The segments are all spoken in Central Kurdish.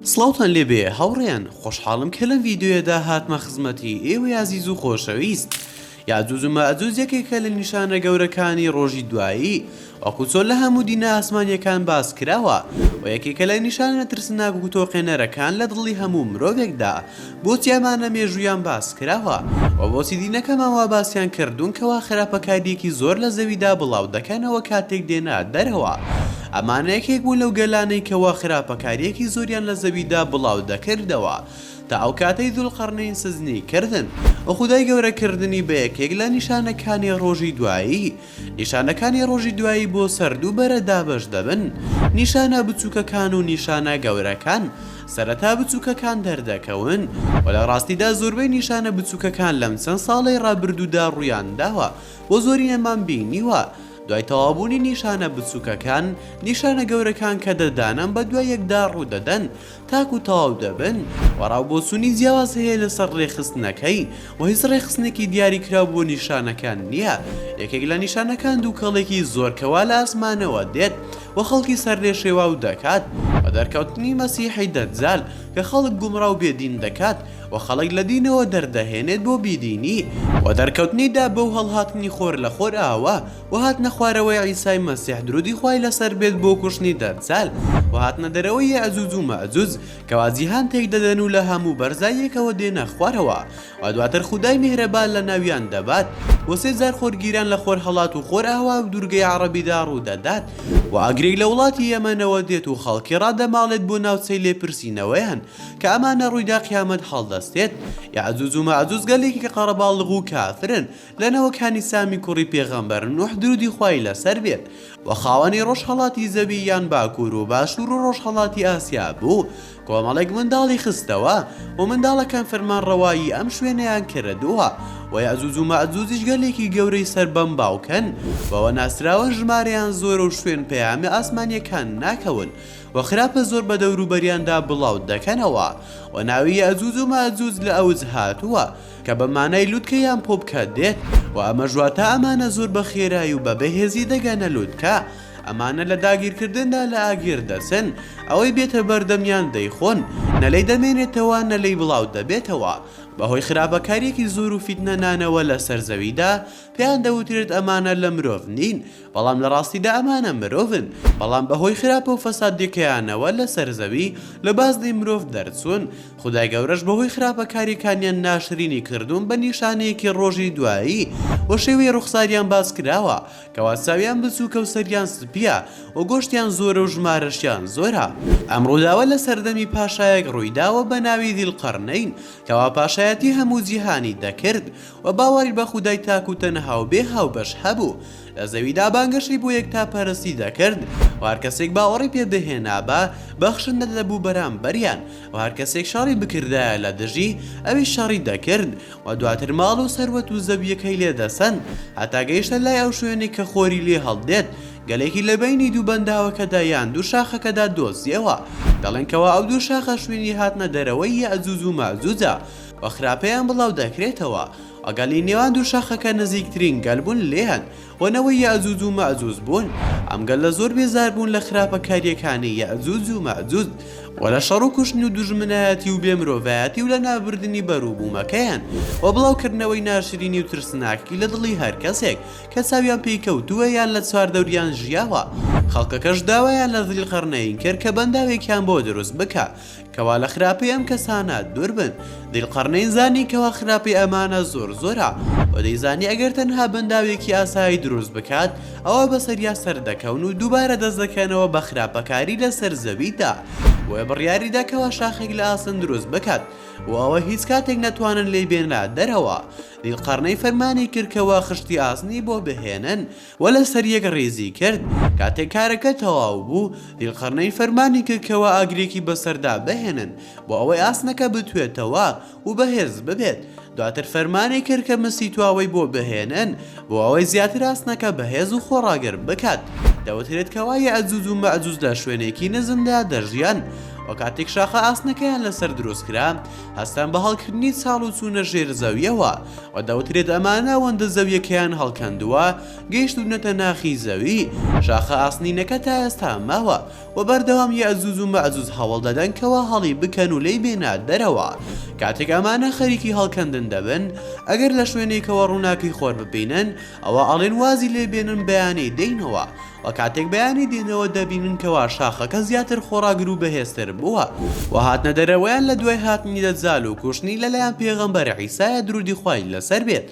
سڵاوتان لێ بێ هاوڕێیان خۆشحاڵم کە لەم ڤیدیۆیەدا هاتمە خزمەتی ئێوەی ئازیز و خۆشەویست یاجوج و ماجوج یەکێکە لە نیشانە گەورەکانی ڕۆژی دوایی وەکو چۆن لە هەموو دینە ئاسمانیەکان باس کراوە و یەکێکە لە نیشانە ترسناک و تۆقێنەرەکان لە دڵی هەموو مرۆڤێکدا بۆچی ئەمان لە مێژوویان باس کراوە؟ وە بۆچی دینەکەمان وا باسیان کردوون کەوا خراپەکاریەکی زۆر لە زەویدا بڵاو دەکەنەوە کاتێک دێنە دەرەوە؟ ئەمانە یەکێک بوون لەو گەلانەی کەوا خراپەکاریەکی زۆریان لە زەویدا بڵاو دەکردەوە تا ئەو کاتەی ذوالقرنین سزنی کردن وخودای گەورە کردنی بە یەکێک لە نیشانەکانی ڕۆژی دوایی نیشانەکانی ڕۆژی دوایی بۆ سەر دوو بەرە دابەش دەبن، نیشانە بچووکەکان و نیشانە گەورەکان، سەرەتا بچووکەکان دەردەکەون و لە ڕاستیدا زۆربەی نیشانە بچووکەکان لەم چەند ساڵەی ڕابردوودا ڕوویان داوە و زۆرینەمان بینیوە، دوای تەواوبوونی نیشانە بچووکەکان، نیشانە گەورەکان کە دە دانەن بەدوای یەکدا ڕوودەدەن. تاکو تەواو دەبن وەڕاو بۆچونی جیاواز هەیە لەسەر ڕێکخستنەکەی وە هیچ ڕێکخستنێکی دیاری کراو بۆ نیشانەکان نیە یەکێک لە نیشانەکان دوکەڵێکی زۆر کەوا لە ئاسمانەوە دێت وە خەڵکی سەر لێ شێواو دەکات وە دەرکەوتنی مەسیحی دەجال کە خەڵک گومڕاو بێ دین دەکات وە خەڵک لە دینەوە دەردەهێنێت بۆ بیدینی وە دەرکەوتنی داب و هەڵهاتنی خۆر لە خۆرئاوا وهاتنە خوارەوەی عیسای مەسیح درودی خوای لەسەر بێت بۆ کوشتنی دەجال وهاتنە دەرەوەی یەئجوج و مەئجوج کەوا جیهان تێکدەدەن و لە هەموو بەرزاییەکەوە دێنە خوارەوە و دواتر خودای میهرەبان لە ناویان دەبات و سێ جار خۆرگیران لە خۆرهەڵات و خۆرئاوا و دوورگەی عەڕەبیدا ڕوودەدات و ئاگرێک لە وڵاتی یەمەنەوە دێت و خەڵکی ڕادەماڵێت بۆ ناوچەی لێپرسینەوەیان کە ئەمانە ڕوویدا قیامەت هەڵدەستێت یەئجوج و مەئجوج گەلێکی قەڕەباڵغ و کافرن لە نەوەکانی سامی کوڕی پێغەمبەر نوح درودی خوای لەسەر بێت و خاوەنی ڕۆژهەڵاتی زەوی یان باکور و باشور و ڕۆژهەڵاتی ئاسیا بوو کۆمەڵێک منداڵی خستەوە و منداڵەکان فەرمانڕەوایی ئەم شوێنەیان کردووە و یەئجوج و مەئجوجیش گەلێکی گەورەی سەر بەم باوکەن بەوە ناسراون ژمارەیان زۆرە و شوێن پەیامە ئاسمانیەکان ناکەون و خراپە زۆر بە دەوروبەریاندا بڵاو دەکەنەوە و ناوی یەئجوج و مەئجوج لە ئەوج هاتووە کە بە مانای لوتکە یان پۆپکە دێت و ئەمەش واتە ئەمانە زۆر بە خێرای و بە بەهێزی دەگەنە لوتکە، ئەمانە لە داگیرکردندا لە ئاگر دەچن، ئەوەی بێتە بەردەمیان دەیخۆن، نە لێی دەمێنێتەوە نە لێی بڵاو دەبێتەوە، بەهۆی خراپەکارییەکی زۆر و فیتنە نانەوە لەسەر زەویدا، پێیان دەوترێت ئەمانە لە مرۆڤ نین، بەڵام لە ڕاستیدا ئەمانە مرۆڤن، بەڵام بەهۆی خراپە و فەسادییەکەیانەوە لەسەر زەوی لە بازنەی مرۆڤ دەرچوون، خودای گەورەش بەهۆی خراپەکاریەکانیان ناشرینی کردوون بە نیشانەیەکی ڕۆژی دوایی و شێوەی ڕوخساریان باس کراوە کەوا چاویان بچوکە و سەریان سپیە و گۆشتیان زۆرە و ژمارەشیان زۆرە ئەم ڕووداوە لە سەردەمی پاشایەک ڕوویداوە بە ناوی ذی القرنین کەوا پاشایەتی هەموو جیهانی دەکرد و باوەڕی بە خودای تاک و تەنها و بێ هاوبەش هەبوو لە زەویدا بانگەشەی بۆ یەکتاپەرستی دەکرد و هەر کەسێک باوەڕی پێ بهێنابا بەخشندە دەبوو بەرامبەریان و هەر کەسێک شەڕی بکردایە لە دژی ئەویش شەڕی دەکرد و دواتر ماڵ و سەروەت و زەوییەکەی لێ دەسەند هەتا گەیشتە لای ئەو شوێنەی کە خۆری لێ هەڵدێت گەلێکی لە بەینی دوو بەنداوەکەدا یان دوو شاخەکەدا دۆزییەوە دەڵێن کەوا ئەو دوو شاخە شوێنی هاتنە دەرەوەی یەئجوج و مەئجوجە و خراپەیان بڵاو دەکرێتەوە ئەگەلی نێوان دوو شاخەکە نزیکترین گەل بوون لێیان و نەوەی یەئجوج و مەئجوج بوون ئەم گەلە زۆر بێزار بوون لە خراپەکارییەکانی یەئجوج و مەئجوج و لە شەڕ و کوشتن و دوژمنایەتی و بێ مرۆڤایەتی و لەنابردنی بەروبوومەکەیان و بڵاوکردنەوەی ناشرینی و ترسناکی لە دڵی هەر کەسێک کە چاویان پێی کەوتووە یان لە چواردەوریان ژیاوە خەڵکەکەش داوایان لە ذیلقەرنەین کرد کە بەنداوێکیان بۆ دروست بکا کوا لە خراپەی ئەم کەسانە دوور بن ذیلقرنین زانی کوا خراپەی ئەمانە زۆر زۆرە وە دەیزانی ئەگەر تەنها بەنداوێکی ئاسایی دروست بکات ئەوا بەسەریا سەر دەکەون و دووبارە دەست دەکەنەوە بە خراپەکاری لەسەر زەویدا بۆیە بڕیاریدا کوا شاخێک لە ئاسن دروست بکات بۆ ئەوە هیچ کاتێک نەتوانن لێی بێنرا دەرەوە ذیلقرنین فەرمانی کرد کوا خشتی ئاسنی بۆ بهێنن وە لەسەر یەک ڕیزی کرد، کاتێک کارەکە تەواو بوو ذیلقەرنەین فەرمانی کرد کەوا ئاگرێکی بەسەردا بهێنن بۆ ئەوەی ئاسنەکە بتوێتەوە و بەهێز ببێت، دواتر فەرمانی کرد کە مسی تواوەی بۆ بهێنن بۆ ئەوەی زیاتر ئاسنەکە بەهێز و خۆڕاگر بکات، دەوترێت کەوا یەئجوج و مەئجوج لە شوێنێکی نزمدا دەژیان وە کاتێک شاخە ئاسنەکەیان لەسەر دروست کرا، هەستان بە هەڵکردنی چاڵ و چوونە ژێر زەویەوە و دەوترێت ئەمە ناوەندە زەویەکەیان هەڵکەندووە گەیشتوونەتە ناخی زەوی شاخە ئاسنینەکە تا ئێستا ماوە و بەردەوام یەئجوج و مەئجوج هەوڵ دەدەن کەوا هەڵی بکەن و لێی بێنە دەرەوە کاتێک ئەمانە خەریکی هەڵکەندن دەبن ئەگەر لە شوێنێکەوە ڕووناکی خۆر ببینن ئەوە ئەڵێن وازی لێ بێنن بەیانی دێنەوە و کاتێک بەیانی دێنەوە دەبینن کەوا شاخەکە زیاتر خۆڕاگر و بەهێزتر بووە و هاتنە دەرەوەیان لە دوای هاتنی دەجال و کوشتنی لەلایەن پێغەمبەر عیسایە درودی خوای لەسەر بێت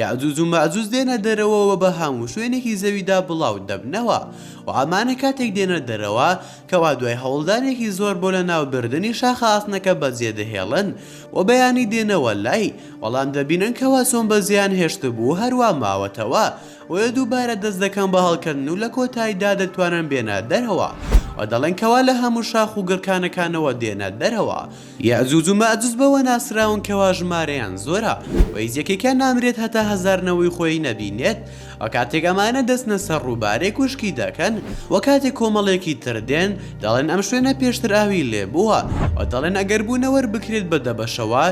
یاجوج و ماجوج دێنە دەرەوە و بە هەموو شوێنێکی زەویدا بڵاو دەبنەوە و ئەمانە کاتێک دێنە دەرەوە کەوا دوای هەوڵدانێکی زۆر بۆ لەناو بردنی شاخە ئاسنەکە بەجێ دەهێڵن و بەیانی دێنەوە لای بەڵام دەبینن کەوا چۆن بەجێیان هێشتبوو هەروا ماوەتەوە بۆیە دووبارە دەست دەکەن بە هەڵکەندن و لە کۆتاییدا دەتوانن بێنە دەرەوە و دەڵێن کەوا لە هەموو شاخ و گڕکانەکانەوە دێنە دەرەوە. یەئجوج و مەئجوج بەوە ناسراون کەوا ژمارەیان زۆرە و هیچ یەکێکیان نامرێت هەتا هەزار نەوەی خۆی نەبینێت و کاتێک ئەمانە دەچنە سەر ڕووبارێک وشکی دەکەن و کاتێک کۆمەڵێکی تر دێن دەڵێن ئەم شوێنە پێشتر ئاوی لێبووە و دەڵێن ئەگەر بوونەوەر بکرێت بە دەبەشەوە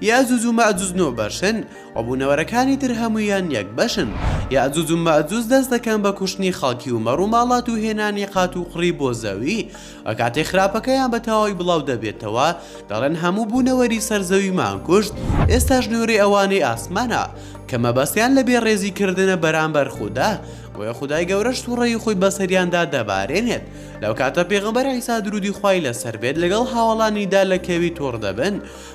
یەئجوج و مەئجوج نۆ بەشن و بوونەوەرەکانی تر هەموویان یەک بەشن. یەئجوج و مەئجوج دەست دەکەن بە کوشتنی خەڵکی و مەڕ و ماڵات و هێنانی قات و قڕی بۆ زەوی و کاتێ خراپەکەیان بە تەواوی بڵاو دەبێتەوە دەڵێن هەموو بوونەوەری سەر زەویمان کوشت ئێستاش نۆرەی ئەوانەی ئاسمانە کە مەبەستیان لە بێ ڕێزی کردنە بەرامبەر خودا بۆیە خودای گەورەش سوڕەی خۆی بەسەریاندا دەبارێنێت لەو کاتە پێغەمبەر عیسا درودی خوای لەسەر بێت لەگەڵ هاوەڵانیدا لە کەوی تۆڕ دەبن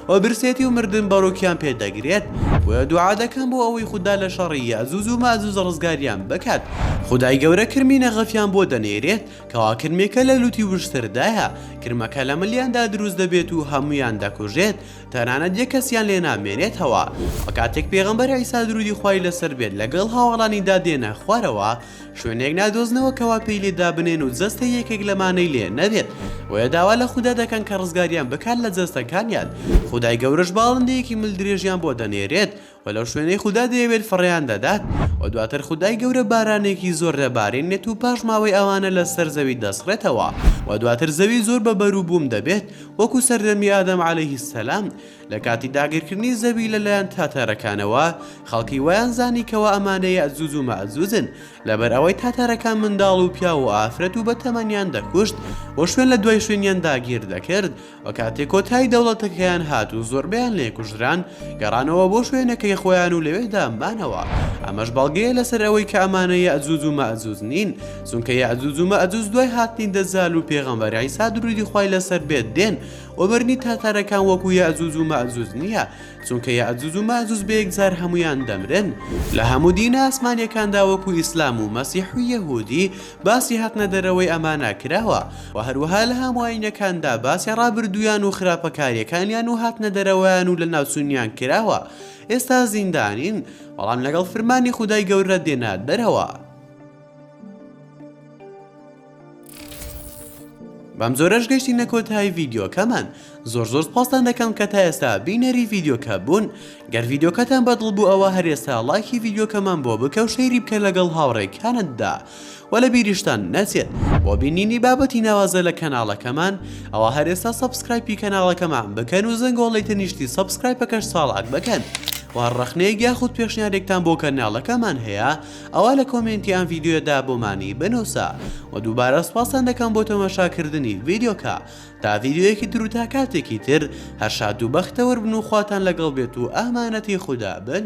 و برسێتی و مردن بەڕووکیان پێ دەگرێت، بۆیە دوعا دەکەن بۆ ئەوەی خودا لە شەڕی یەئجوج و مەئجوج ڕزگاریان بکات، خودای گەورە کرمی نەغەفیان بۆ دەنێرێت کەوا کرمێکە لە لووتی وشتردایە، کرمەکە لە ملیاندا دروست دەبێت و هەموویان دەکوژێت، تەنانەت یەک کەسیان لێ نامێنێتەوە، وە کاتێک پێغەمبەر عیسا دروودی خوای لەسەر بێت لەگەڵ هاوەڵانیدا دێنە خوارەوە، شوێنێک نادۆزنەوە کەوا پێی لێ دابنێن و جەستەی یەکێک لەمانەی لێ نەبێت بۆیە داوا لە خودا دەکەن کە ڕزگاریان بکات لە جەستەکانیان خودای گەورەش باڵندەیەکی مل درێژیان بۆ دەنێرێت و لەو شوێنەی خودا دەیەوێت فڕێیان دەدات و دواتر خودای گەورە بارانێکی زۆر دەبارێنێت و پاش ماوەی ئەوانە لە سەر زەوی دەسڕێتەوە و دواتر زەوی زۆر بە بەروبووم دەبێت وەکو سەردەمی ئادەم عەلەیهی سەلام لە کاتی داگیرکردنی زەوی لە لایەن تاتارەکانەوە، خەڵکی وایان زانی کەوا ئەمانە یەئجوج و مەئجوجن، لەبەر ئەوەی تاتارەکان منداڵ و پیاو و ئافرەت و بەتەمەنیان دەکوشت و شوێن لە دوای شوێنیان داگیر دەکرد و کاتێ کۆتایی دەوڵەتەکەیان هات و زۆربەیان لێ کوژران گەڕانەوە بۆ شوێنەکەی خۆیان و لەوێدا مانەوە ئەمەش بەڵگەیە لەسەر ئەوەی کە ئەمانە یەئجوج و مەئجوج نین چونکە یەئجوج و مەئجوج دوای هاتنی دەجال و پێغەمبەر عیسا درودی خوای لەسەر بێت دێن وەبەرنی تاتارەکان وەکو یەئجوج و مەئجوج نیە چونکە یەئجوج و مەئجوج بەیەکجار هەموویان دەمرن لە هەموو دینە ئاسمانیەکاندا وەکو ئیسلام و مەسیح و یەهودی باسی هاتنە دەرەوەی ئەمانە کراوە وە هەروەها لە هەموو ئاینەکاندا باسی ڕابردوویان و خراپەکاریەکانیان و هاتنە دەرەوەیان و لەناوچونیان کراوە ئێستا زیندانین بەڵام لەگەڵ فرمانی خودای گەورە دێنە دەرەوە. بەم جۆرەش گەشتینە کۆتایی ڤیددیوکەمان زۆر زۆر پاستان دەکەم کە تا ئێستا بینەری ڤیددیوکە بوون گەر ڤیددیوکەتان بەدڵ بوو ئەوە هەرێستا لایکی ڤیددیوکەمان بۆ بکە و شەیری بکە لەگەڵ هاوڕێکانتدا و لە بیریشتان نەچێت بۆ بینینی بابەتی ناوازە لە کەناڵەکەمان ئەوە هەرێستا سبسکرایپی کەناڵەکەمان بکەن و زەنگۆڵی تەنیشتی سبسکرایپەکەش ساڵات بکەن و ڕخنەیە یاخود پێشنیارێکتان بۆ کەناڵەکەمان هەیە ئەوا لە کۆمێنتی ئەم ڤیدیۆیەدا بۆمانی بنووسە و دووبارە سپاستان دەکەم بۆ تەماشاکردنی ڤیدیۆکە تا ڤیدیۆیەکی تر و تا کاتێکی تر هەر شاد و بەختەوەر بن و خواتان لەگەڵ بێت و ئامانەتی خودا بن.